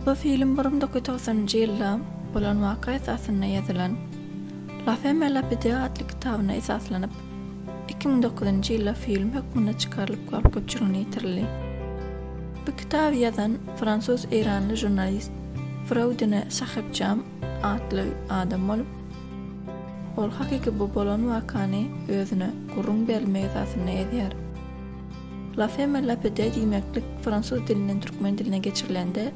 Bu film 1990-njy ýylda bolan waka esasynda ýazylan La femme la pide atly kitabyna esaslanyp, 2009-njy ýylda film hökmünde çykarylyp halk köpçüligine ýetirildi. Bu kitaby ýazan fransuz-eýranly žurnalist Fraudine Sahebjam atly adam bolup, ol hakyky bu bolan wakany özüne gürrüň berilmek esasynda ýazýar. La femme lapide diýmeklik fransuz dilinden türkmen diline geçirilende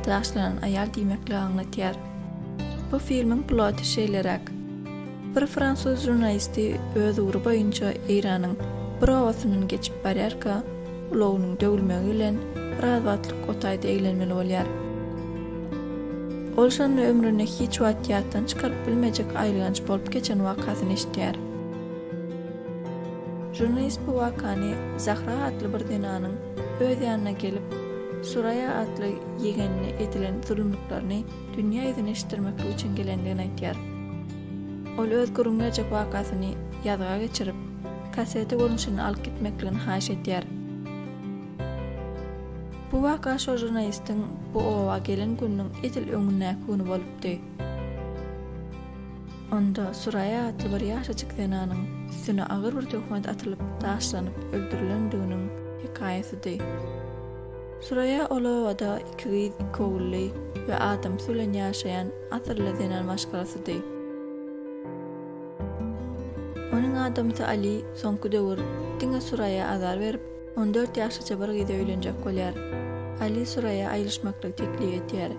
daşlanan aýal diýmekligi aňlatýar. Bu filmiň ploty şeýleräk. Bir fransuz žurnalisti öz ugry boýunça Eýranyň bir obasyndan geçip barýarka, ulagynyň döwülmegi bilen biraz wagtlyk o taýda eglenmeli bolýar. Ol şonda ömründe hiç wagt ýatdan çykaryp bilmejek aýylganç bolup geçen wakasyny eşidýär. Žurnalist bu wakany Zahra atly bir zenanyň öz ýanyna gelip, Suraýa atly ýegenine edilen zulumlyklaryny dünýä ýüzüni eşitdirmeklik üçin gelendigini aýtýar. Ol öz gürrüňläjek wakasyny ýazga geçirip, kasseta görnüşinde alyp gitmekligini haýyş edýär. Bu waka şol žurnalistiň bu oba gelen gününiň edil öňündäki güni bolupdy. Onda Suraýa atly bir ýaşajyk zenanyň üstüne agyr bir töhmet atylyp, daşlanyp öldürilendiginiň hekaýasydy. Süreýýa ol obada iki gyz, iki ogully we adamsy bilen ýaşaýan asylly zenan maşgalasydy. Onuň adamsy Aly soňky döwür diňe Süreýýa azar berip, on dört ýaşlyja bir gyza öýlenjek bolýar. Aly Süreýýa aýylyşmaklygy teklip edýär.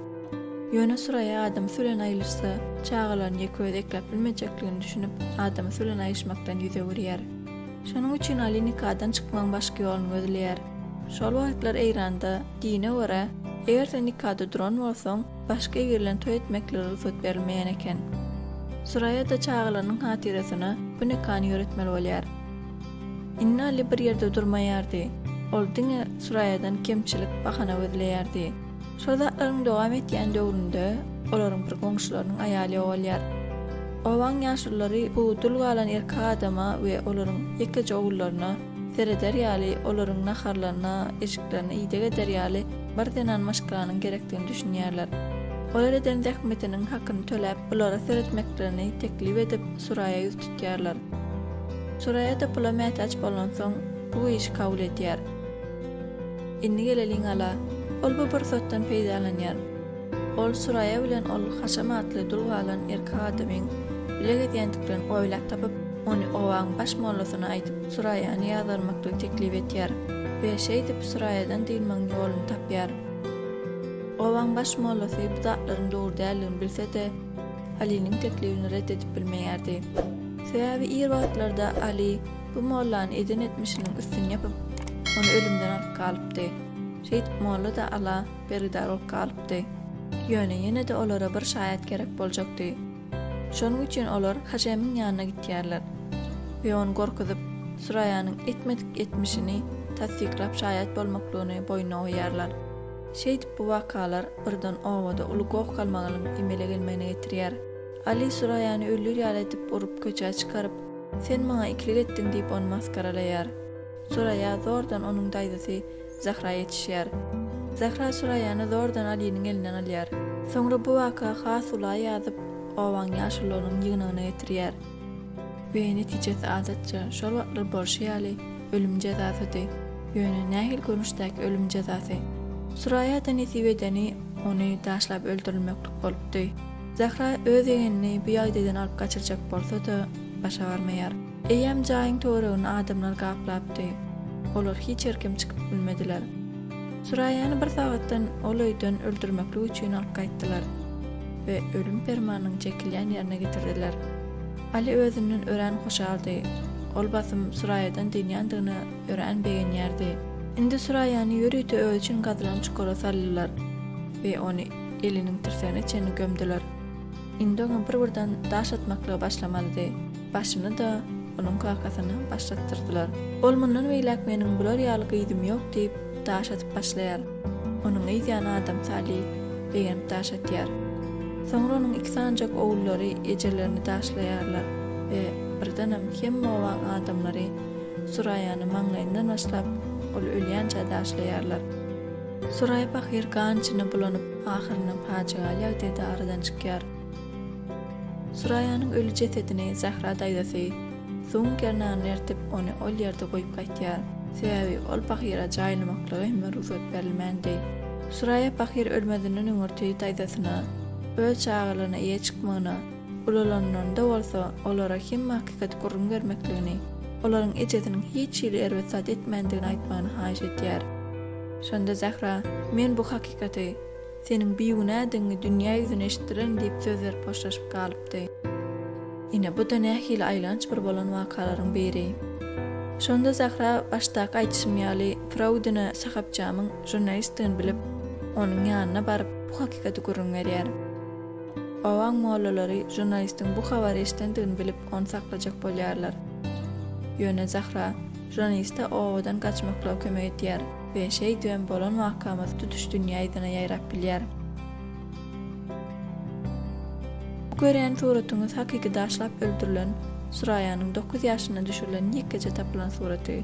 Ýöne Süreýýa adamsy bilen aýylyşsa, çagalaryny ýeke özi ekläp bilmejekligini düşünip, adamsy bilen aýyşmakdan ýüz öwürýär. Şonuň üçin Ali nikadan çykmagyň başga ýoluny gözleýär. Şol wagtlar Eýranda, dine görä, eger sen nikada duran bolsaň, başga ir bilen toý etmeklige rugsat berilmeýän eken. Suraýa-da çagalarynyň hatyrasyna bu nikany ýöretmeli bolýar. Indi Ali bir ýerde durmaýardy. Ol diňe Suraýadan kemçilik, bahana gözleýärdi. Şol zatlaryň dowam etýän döwründe olaryň bir goňşularynyň aýaly ýogalýar. Obaň ýaşulylary bu dul galan erkek adama we olaryň ýekeje ogullaryna sereder ýaly, olaryň naharlaryna, eşiklerine ideg eder ýaly bir zenan maşgalanyň gerekdigini düşünýärler. Olar eden zähmetiniň hakyny töläp, bulara seretmeklerini teklip edip, Suraýa ýüz tutýarlar. Suraýa-da pula mätäç bolansoň, bu işi kabul edýär. Indi geleliň Ala. Ol bu pursatdan peýdalanýar. Ol Suraýa bilen ol Haşam atly dul galan erkek adamyň bile gezýändiklerini oýlap tapyp, ony obaň baş mollasyna aýdyp, Suraýany ýazgarmaklygy teklip etýär we şeýdip Suraýadan dynmagyň ýoluny tapýar. Obaň baş mollasy bu zatlaryň dogry däldigini bilse-de, Alynyň teklibini ret edip bilmeýärdi. Sebäbi ir wagtlarda Aly Bu mollany eden etmişiniň üstüni ýapyp, ony ölümden alyp galypdy. Şeýdip molla-da Ala bergidar bolup galypdy. Ýöne ýene-de olara bir şaýat gerek boljakdy. Şonuň üçin olar Haşemiň ýanyna gitýärler we ony gorkuzyp, Süraýanyň etmedik etmişini tassyklap şaýat bolmaklygyny boýnuna goýýarlar. Şeýdip bu wakalar birden obada uly goh-galmagalyň emele gelmegine getirýär. Aly Süraýany öldür ýaly edip urup köçä çykaryp, Sen maňa ikilik etdiň diýip ony masgaralaýar. Suraýa zordan onuň daýzasy Zahra ýetişýär. Zahra Suraýany zordan Alynyň elinden alýar. Soňra bu waka has ula ýazyp, obaň ýaşullarynyň ýygnagyna getirýär. We netijesi adatça, şol wagtlar bolşy ýaly, ölüm jezasydy. Ýöne nähili görnüşdäki ölüm jezasy? Suraýa-da nesip edeni ony daşlap öldürilmeklik bolupdy. Zähra öz ýegenini bu ýagdaýdan alyp gaçyrjak bolsa-da, başa barmaýar. Eýýäm jaýyň töweregini adamlar gaplapdy. Olar hiç ýerkem çykyp bilmediler. Süräýäni bir sagatdan ol öýden öldürmeklik üçin alyp gaýtdylar we ölüm permanynyň çekilýän ýerine getirdiler. Aly özünden örän hoşaldy. Ol basym Süräýadan dynýandygyna örän begenýärdi. Indi Süräýäni ýörite özi üçin gazylan çukura saldylar we ony. eliniň tirsägine çenli gömdüler. Indi oňa bir-birden daş atmaklyga başlamalydy. Başyny-da, onuň kakasyny baş atdyrdylar. Ol mundan beýläk meniň bular ýaly gyzym ýok diýip, daş atyp başlaýar. Onuň yz ýany Adam Sali begenip daş atýar. Soňra onuň iki sanjak ogullary ejelerini daşlaýarlar we birdenem hemme obaň adamlary Suraýany maňlaýyndan başlap, ol ölýänçä daşlaýarlar. Suraý pahyr gan içinde bulanyp, ahyrynda pajygaly ýagdaýda aradan çykýar. Suraýanyň öli jesedini Zähra daýzasy suwuň gernagyna ertip, ony ol ýerde goýup gaýtýar. Sebäbi ol pahyra jaýlamaklyga hem rugsat berilmändi. Suraýa pahyr ölmezinden öňürti daýzasyna, öz çagalaryna eýe çykmagyna, Ulalanlarynda bolsa olara hemme hakykaty gürrüň bermekligini, olaryň ejesiniň hiç hili erbet zat etmändigini aýtmagyny haýyş edýär. Şonda Zähra, Men bu hakykaty, seniň bigünädigiňi dünýä ýüzüne eşitdirerin diýip söz berip hoşlaşyp galypdy. Ine, bu-da nähili aýlanç bir bolan wakalaryň biri. Şonda Zähra başdaky aýdyşym ýaly Fraudine Sahapjamyň žurnalistdigini bilip, onuň ýanyna baryp, bu hakykaty gürrüň berýär. Obaň mollalary žurnalistiň bu habary eşidendigini bilip, ony saklajak bolýarlar. Ýöne Zahra žurnaliste obadan gaçmaklyga kömek edýär we şeýdibem bolan wakamyz tutuş dünýä ýzyna ýaýrap bilýär. Bu görýän suratyňyz hakyky daşlap öldürilen Suraýanyň dokuz ýaşynda düşürilen ýekgeje tapylan suraty.